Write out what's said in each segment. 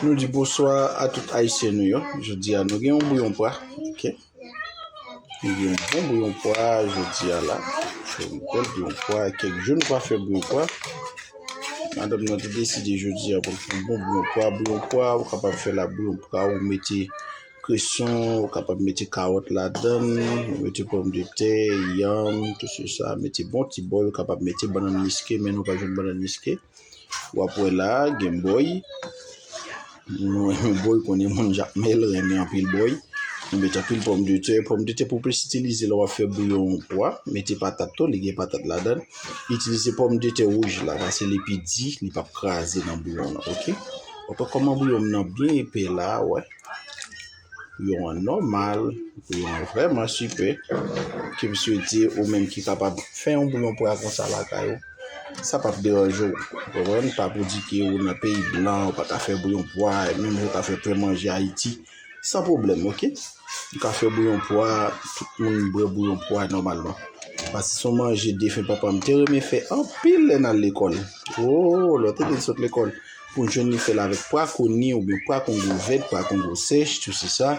Nou di bonswa a tout ayisyen nou yo jodi a nou gen yon bouyon pwa ok nou gen yon bon bouyon pwa jodi a la fè yon bel bouyon pwa kèk jou nou pa fè bouyon pwa madam nan te deside jodi a pou l fè yon bon bouyon pwa bouyon pwa ou kapab fè la bouyon pwa ou mete kreson ou kapab mete kawòt ladan l ou mete pòmdetè yanm tout se sa mete bon ti bòl ou kapab mete bannann miske men nou pa jwenn bannann miske Wap wè la gen boy. Mwen boy konnen moun jakmel renmen anpil boy. Mwen met anpil pòm de tè. Pòm de tè pou plis itilize lè wap fè bouyon pwa. Mete patat tou li gen patat ladan. Itilize pòm de tè wouj la pase li pi di li pap kraze nan bouyon nan ok. Wap wè kòman bouyon nan byen epè la wè. yo an nòmal, yo an vrèman sipè, ke msye di ou menm ki kapab fè yon bouyon pwa konsa lakay ou, sa pap deranje ou, ou konprann, pa pou di ke ou nan peyi blan, ou pa ka fè bouyon pwa, menm jan ou ka fè plen manje Ayiti, san pwoblèm ok, ou ka fè bouyon pwa, tout moun bwè bouyon pwa nòmalman, paske se yon manje defen papa m te renmen fè anpil lè n al lekòl, oo lè w te vin sot lekòl. pou jwenn li fèl avèk pwa koni oubyen pwa kongo vèt, pwa kongo sèch, tout se sa.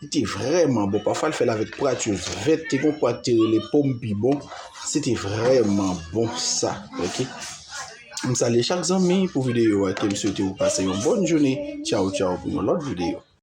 Li te vrèman bon. Pafwa l fèl avèk pwa tyo vèt, te gon pwa ki te rele pom pi bon. Se te vrèman bon sa. Ok. M salye chak zanmi pou videyo a ke m swete ou pase yon bòn joune. Tchaw tchaw pou yon lòt videyo.